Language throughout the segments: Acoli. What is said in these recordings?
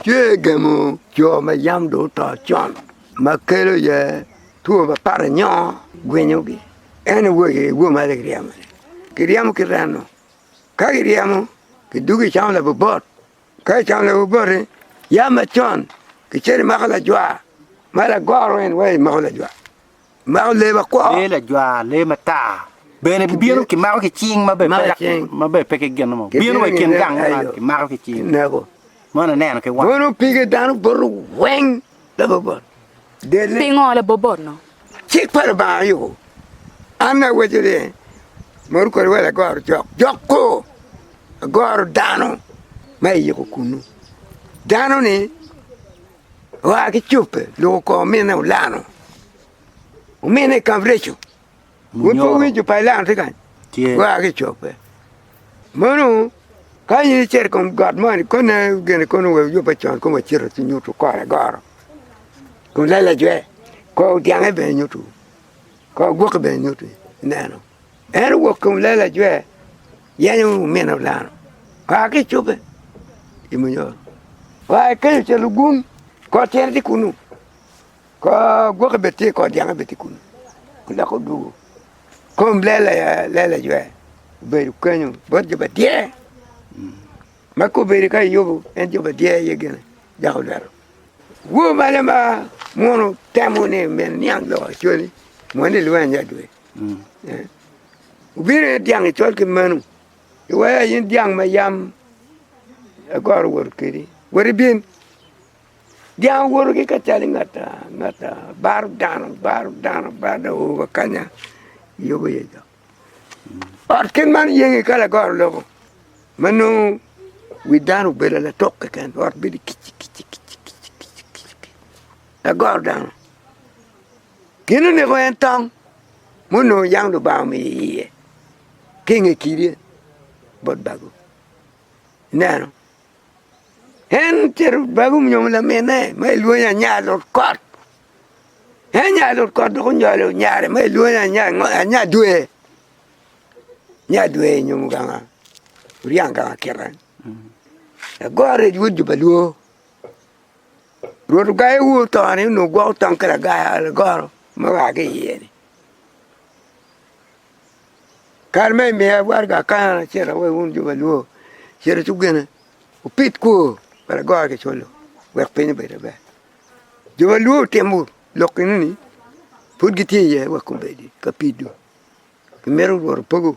Tye gemo jo ma yam dong oto con ma kelo iye two mapat nyo gwinyogi. En aye woyi i woma ni kiryemo ni, kiryemo ki remo. Ka kiryemo kidwogo kicamo labubot, ka kicamo labubot-ti yam macon kicito imako lajwa ma lagoro en waci imoko lajwa. mako lee makwo. Lee lajwar, lee matar. Bene gibino kimako ki cing ma bene pe ki gin mo. Bino wa i kin gang man kimako ki cing. Moni aneno ki wang. Mono pige dano boto weng labobot. Pingo labobot-nu? Cik pa Lubanga aye yubo. An awaco ni mono kodi wa lagoro jok. Jok kor agoro dano ma iyiko kunnu. Dano-ni. Oa ki cobbe, lok okongo ominne olano. Ominne i kabereco, pud pe owinyo pa elano tye kany. Oa ki cobbe. Mono ka in icito i kom got mo ni kone gin koni wek wuyubbe con kong wacito ci nyutu kore agoro. Kun lelacce kor dyang-nge bene nyutu, kor gwoki bene nyutu ineno. En owok ki lela ajwe, yenyo omino dano kaa ki i cobbe i munyoro. Wa i kenyo ca lugum, kor tyene tye kunnu, kor gwoki bene tye, kor dyanga bene tye kunnu, dok odwogo. Kom lela ajwe obedo kenyu bot jo madyer, ma ka obedo ka Yubu en jo madyer aye gene dok olwero. Woo mane ma muno temo ni omyero iniang lok acwali, moni lweny adada. Wubino i dyang icol ki menu, iwea in dyang ma yam agoro wot kedi, woti bin. Dyang owoto ki kacalli ngata ngata, baro dano, baro dano, baro dano, oo wa kanya yubo iye jo. Ot kit man oyengi ka lagoro lobo ma nongo wi dano obedo latuk keken, ot bedo kicikicikiciki, lagoro dano. Gin oneko en tong ma onongo yam Lubanga omiyo iye ki i nge kidi bot bagu. Ineno? En ocito bagu nyo laminne ma kilwongo ni anya lut kot. En anya lut kot dok onyolo nyare ma kilwongo ni anya dwe. Anya dwe onyomo ganga oryang ganga kite. Lagorrec wod jo ba lwor. Rwot ogayo wu otoni onongo gwoko tong ki lagoro ma oa ki iye-ni. Kare ma imiya waraga akana acito awoyo wun jo maluor cito cuk gene wupid kwo pa lagoro ki colo wek piny obed maber. Jo maluor timo lok enoni pud gitye iye wek gubedi ka pido gimito Rwot opogo.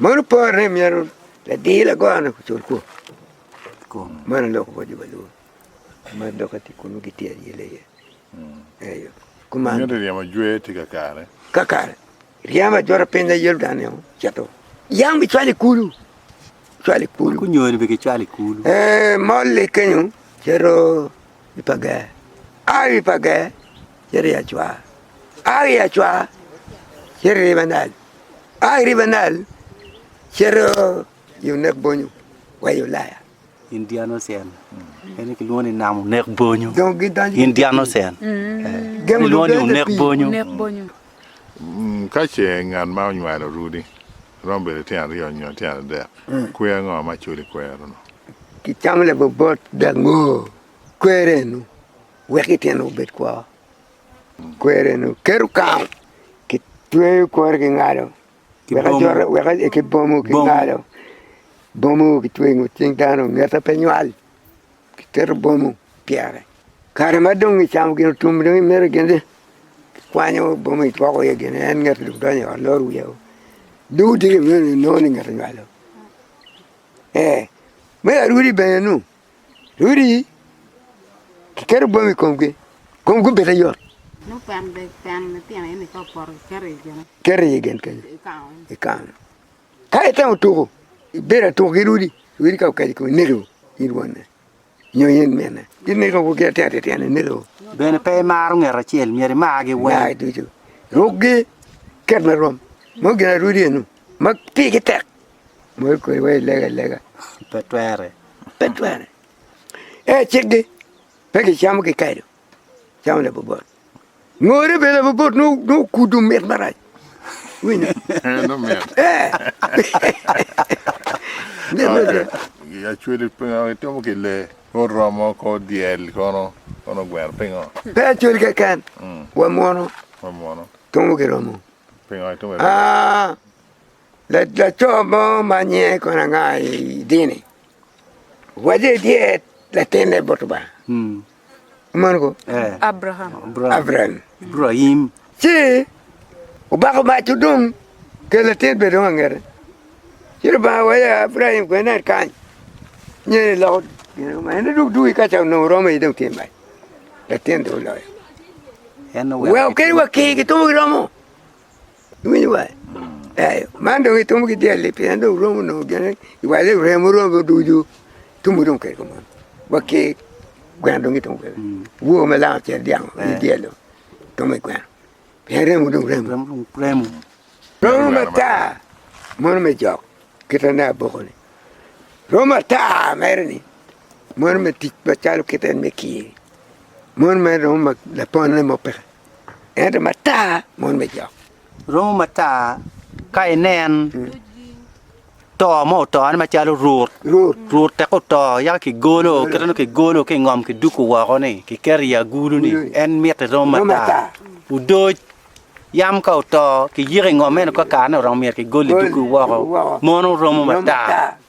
Mano pore ni myero ladir lago-ni ocul kwor kong. Man aye lok bot jo pa Lubanga ma dok etye kun ma gitye ayele iye. Eyo. Kuman. Miti ryemo jwe tye kakare. Kakare. Ryemo ajwota piny da Yordan-ni o, cito. Yam bicwalo i kulu. Cwalo i kulu. Kunyoni be gicwalo i kulu. Ee, mol-li kenyo, cito i pa ger. A i pa ger, cito i acwar. A i acwar, cito i riba Nail. a i riba Nail cito i onek bonyo wa i Ulaya. Indian Ocean. Ene kilwongo ni nam onek bonyo. Dong gidonjo i Indian pii. Ocean. Eh, Gemo Kilwongo ni lubedde onek pii. bonyo. Nek bonyo. Mm, Ka ce ngat ma onywalo orudi romo bedo tyen aryo nyo tyen adek, kwer ango ma culo i kwerono? Kicamo labobot dek ngo kwero eno wek ityene obed kwo. Kweri-nu keto kang, kitweyo kore ki ngalo, ki bomo ki ngalo, bomo kitweyo i ngut cing dano ngete pe nywal, kiketo bomo pyere. Kare ma dong kicamo gin otum dong imito gin ni, kikwanyo bomo kigwoko iye gin ni en ngete dong donyo i ot loro wiye o, dong odiko inongo ni ngete onywalo. Ee, me arwodi bene-nu Odi kiketo bwome i komgi kong gubite yot. Keto iye gen kenyo i kano. Ka itemo tuko ibedo atuk ki rwodi, rwodi ka okaco i komi neko in wonne nyo in minne gineko wa ki atir atir tyene neko. Bene pe imaro ngat acel myero imargi weng. Margi ducu. Rukgi ket ma rom. Meno gin ma rwodi eno ma pigi tek. Bol kodi wa ilega ilega. Pe twere. Pe twere. E cikgi pe gicamo kikedo, camo labobot. Ngore bene labobot n'okudo mit marac. Wino. Eh, no mit. Eh. Mit mit. Acweli itimo ki le, kor romo, kor dyel kono, kono gweno pingo? Pe acweli keken, mm. wa mwono. Wa mwono. Tungo ki romo. Pingo itimo? Ah, Laco mo ma nyinge kono anga i dini owaco ni tye latinne bot Lubanga, meno ko? Abraim. Ci obako mac odong kel latin bene dong angete, ci Lubanga owaco ni Abraim kono nen kany, nyen iloko gin ma in idug dugi ka ca onongo oromo aye dong tye mac, latin dong oloyo. Wek kadi wa kir kitomo ki romo. Iwinyo wa? Eyo, man dong itumo ki dyelli pien dong wuromo nongo gin iwale i remo romi ducu, tumu dong oket kom on, wa ki gweno dong kitumo kwede, wor ma lam acel dyang onyo dyello tumo i gweno pien remo dong remo, romo matar mono me jok kite ne aboko ni, romo matar mere ni mono me tic macalo kite en me kiye, mono mere romo ma lapone mo peke. Ento matar mon me jok. Romo matar ka inen to mo otone macalo rut rut tek oto yaka kigolo kite nongo kigolo ki ingom kiduku woko ni kiketo i agulu ni en mitte romo matar odoc yam ka oto kiyiko ingom meno kakare ni oromo myero kigol iduku woko mono romo matar.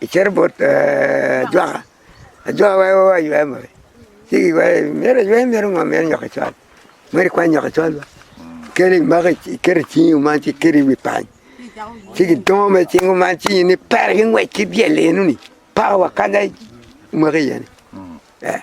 Icito bot ajwaka, ajwaka weko aywe mo ci kiyweye, myero aywe myero ngo myero inywak icwal myero ikwany nywak icwal ba kadi imako iketo icingi kuman ci iketo iwi pany ci kidongo mere icing kuman ci in ipere ki ngwec ki dyelli eno ni pako wa kanya imake iye ni ee.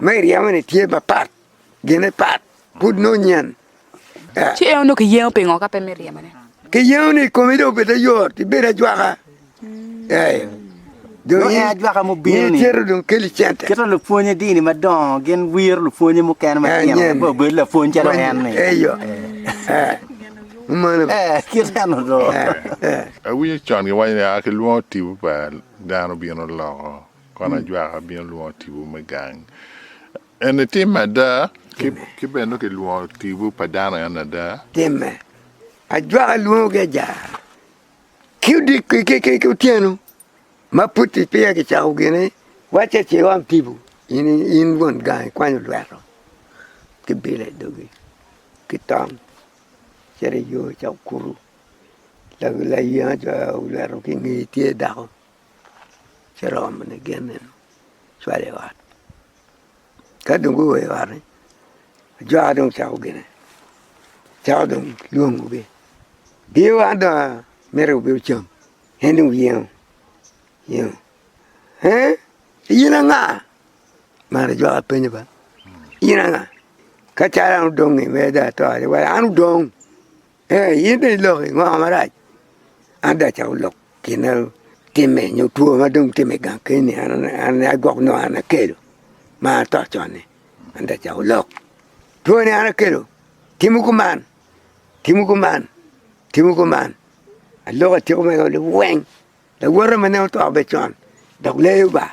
Ma iryemo-ni tye mapat, gine pat, pud nongo nyen. Ci en onongo kiyengo pingo ka pe me ryemone? Kiyengo ni komi dong obed ayot, ibed ajwaka. Ee. Dong en ajwaka mubino ni cito dong keli cente. Kit ma lupwonye dini madongo gin wiro lupwonye mukene matino ni pe obed lapwony calo en-ni. Eyo. Mano. Ee, kit eno dong. Awinyo con giwaco ni, Aa, kilwongo tipo pa dano bino loko. Kono ajwaka abino lwongo tipo me gang. Eni tim ada, ki bene nongo kilwongo tipo pa dano en ada. Timme, ajwaka lwongo ki ajara, ki odiko ki otyeno ma pud peya kicako gine, wacce ce iom tipo in won gang ikwanyo lweto ki bilo i dogi ki tong cito iyo cok kuru, layenga co olweto ki ingeye tye dako. ci romo mine gin eni cwalo i ot ka dong guo i ot-ti ajwaka dong cako gine cako dong lwongogi biye wa dong amito wubin wucam en dong oyengo oyengo eeh in anga mar ajwaka penyo ba in anga ka calo an odong-nge mere dong ato-ri wai an odong Ee, in bene iloko i ngo marac? Adaca olok gin ma timme nyo two ma dong timme i gang keni an aye gwok nongo an akelo ma an ato con-ni. Adaca olok, twoni an akelo, timwu kuman, timwu kuman, timwu kuman. Aloko atyeko mego liweng. Lawote ma nen oto bed con, dok leyo ba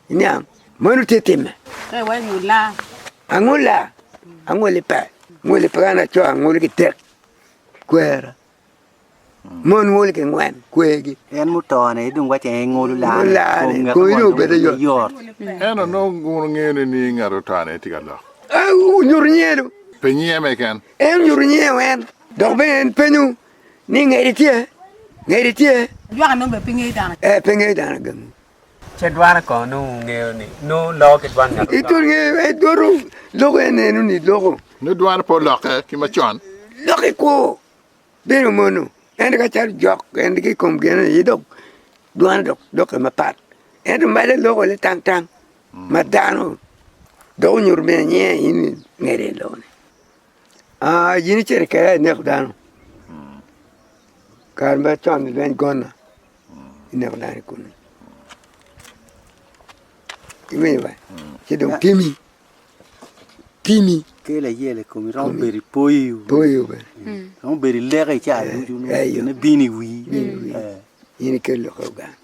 i niang, meno tye timme. Pe wa i ngulla. Angulla, angulli pe. Ngulli pe ka laco angulli ki tek ki kwera. Mon ngulli ki ngwen kwergi. En muto-ni dong wacce en ngulu lane, kom ngat mo dong pe yot. En onongo gunu ngene ni ngat otane tye ka lok. Onyuto nyiye du. Pe nyiye meken. En onyuto nyiye wen, dok bene en penyo Ni ngeri tye, ngeri tye. Ajwaka nongo bene pe ngeyo dano. Ee, pe ngeyo dano gamo. Ce dware kono nongo wungeyo ni nongo loko ki dwan ngat oto? Dwoto loko en eno ni loko. Nongo dwane pe olokke ki macon. Lok i kwo bino mono, ento ka calo jok en ki i kom gin aye dok dwane dok dokke mapat. Ento malo eloko ni tang tang ma dano dok onyuto bene nyinge in ni ngeri en loko ni. Aa in icito kera ineko dano kare macon ni lweny gonna ineko dano i kulu iwinyo bene ci dong timi timi kelo ayel i komi romo bedo i poyo poyo bene romo bedo i leka i caa ducu nongo gine bino i wii in ikelo lok i Uganda.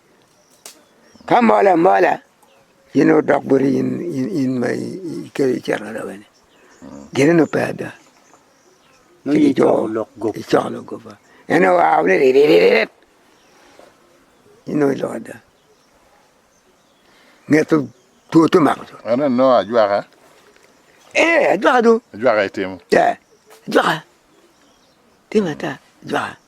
Ka mol amola in dong odok boti in ma ikelo icito lawote-ni gine nongo pe ada ci kijolo icoko lok guppa en aye oa ni riririririri in dong iloko ada nge two two to mako co. Eno nongo ajwaka. Ee ajwaka dong. Ajwaka itimo. Ee ajwaka timo ata ajwaka.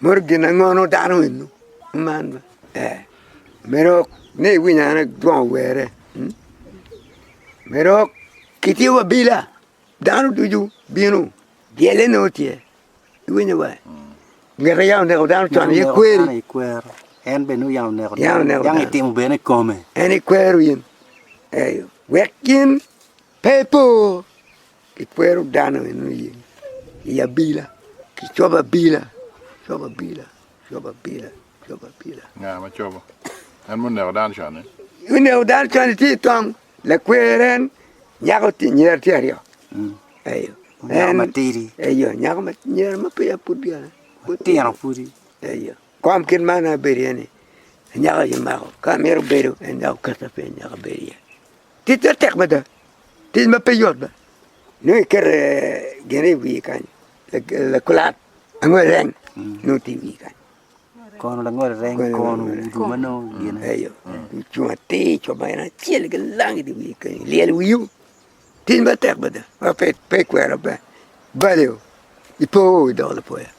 Modo gin ango dano eni man ma ee medo ni iwiny ane dong owerre mm medo kitiyo abila dano ducu bino byele nongo tye iwinyo wa ngete yam oneko dano con aye kweri Dano ikwero. En bene nongo yam oneko Yam oneko dano. Dang itimo bene i kome. en ikwero in eyo wek in pe ipo Kikwero dano eno iye i abila ki cobo abila cobo abila cobo abila cobo abila. Nga ma cobo? En ma oneko dano con-ni? Oneko dano con-ni tye i tong lakwer en nyako tye nyer tye aryo. Mm. Eyo. Nyako matidi. Eyo, nyako ma nyer ma peya pud dyana. Tino pudi. Eyo. Kom kit man abedo iye ni nyako aye mako ka mito bedo en nyako kata pe nyako bedo iye. Tic man tek mada, tic ma pe yot be, nongo ikete gin i wiye kany, lakulat, angwel reng nongo tye i wiye kany, kono langwel reng kono ogudo ma nongo gine, eyo ocung atir co ma en acel gilang idi wiye kenyo ilyel wiyo, tic ma tek mada ma pe pe ikwero be, bali o ipo o idoko lapoya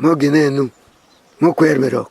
nongo gine nongo kwer me rok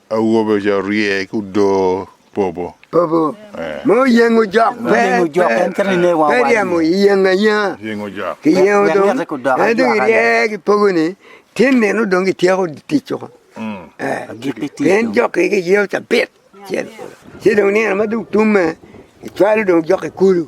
Awobe oja rye ki odoo popo. Popo ma oyengo jok pe ryemo yengo ayenga ki yengo dong en dong irye ki pogo ni tin meno dong ki tyeko tic woko pien jok ki ki yeo cabit ci dong nino ma dong tumme icwalo dong jok ki kulu.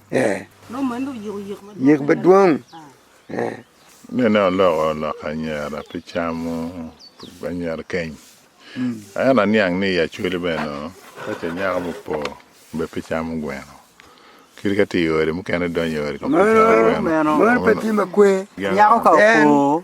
yek madwong. Nene oloko lok anyira pi camo anyira keny. Ento aniang ni i Acholi bene nongo ka ce nyako mupo be pe camo gweno. Kadi ka tye i ode mukene donyo i ode kong pe camo gweno. Meno pe tye makwe. Nyako ka opo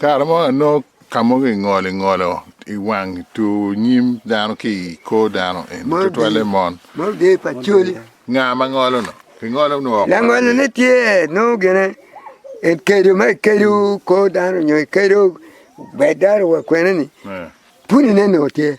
Kare mo anongo ka mogo ingolo ingolo i wang tur nyim dano ki i kor dano eni tutwalle mon. Nga ma ngolono? Kingolo nwo woko. Langolone tye nongo gine ikedo ma ikedo kor dano nyo ikedo bedo wa kwene ni pwonye ne nongo tye.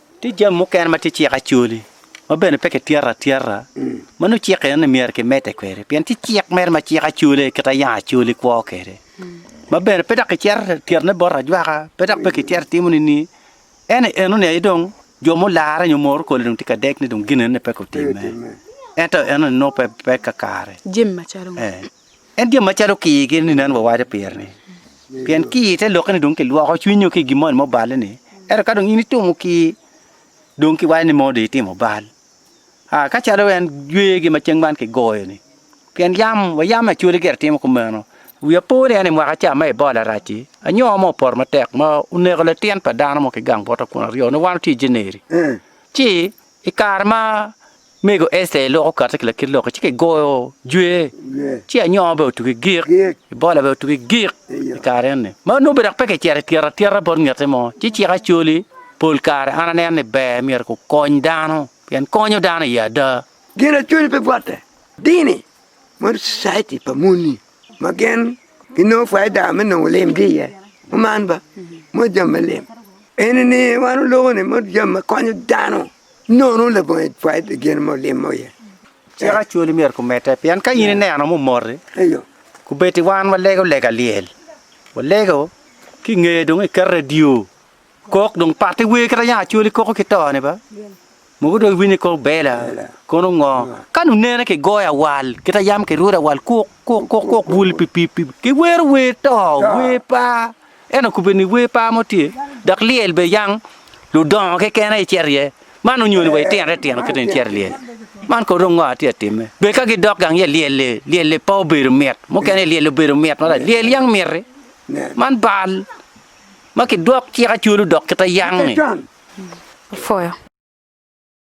Tye jami mukene ma tye cik acoli, ma bene pe kityeto atyeta, ma nongo cik enoni myero kimedde kwede, pien tye cik mere ma cik acoli aye kit ma yam acoli kwo kwede, ma bene pe dok kicito tyetone bot ajwaka, pe dok pe kicito timo nining, ento enoni aye dong jo mularre nyo moro kole dong tye ka dek ni dong gin enoni peke otimme, ento enoni nongo pe kakare. Jami macalo ngo? En jami macalo kir kit ni nen wawaco pire ni, pien kir te lokke ni dong kilwoko cwiny nyo ki i gin moni ma oballe ni, ento ka dong in itimo kir dong kiwaco ni mono dong itimo bal. Aa, ka calo en jwegi ma ceng man kigoyo ni, pien yam wa yam acwali gire timo kumeno, wi apo ni en i mwaka ca ma Ebola arac-ci, anyowa mo opoto matek ma oneko latin pa dano mo ki gang bota kun aryo ni wan watye i January ci I kare ma mego Ester lok okatte ki lakit lok-ki, ci kigoyo jwe, ci anyongo bene otugi gik, Ebola bene otugi gik i kare eni. Ma nongo bene dok pe kicito i tyero atyeta bot ngette mo. Ci cik acoli, pol kare an aneno ni ber myero kukony dano, pien konyo dano iye ada. Genaconi pe bwote, dini, mono Society pa moni ma gin ginongo paida me nongo lim ki iye man ba moc jami me lim eni ni wan oloko ni moc jami ma konyo dano nono labongo aye paid gin mo lim mo iye. Cik acwali myero kumedde pien ka in ineno ma omoti Eyo. kubeddi wan walego lega lyel walego ki nge dong iketo radio Kok dong patte wer kit ma yanga coli koko ki to ne ba mogo dong iwinyo kok bela kono ngo kan onene ki goyo awal kit ma yam ki rwudo awal kok kok kok kok bul pi pi pi ki wero wer to wer pa en aye kube ni wer pa mo tye dok lyel be yang ludongo keken aye cito iye man onyoni wa itino te tino kit eni cito ilyel man kono dong ngo atye atime bed ka gidok gang iye lyel li lyel li pe obedo mit mukene lyel obedo mit marach lyel yang miti man bal. ma kidwok cik acwalo dok kite yang-nge.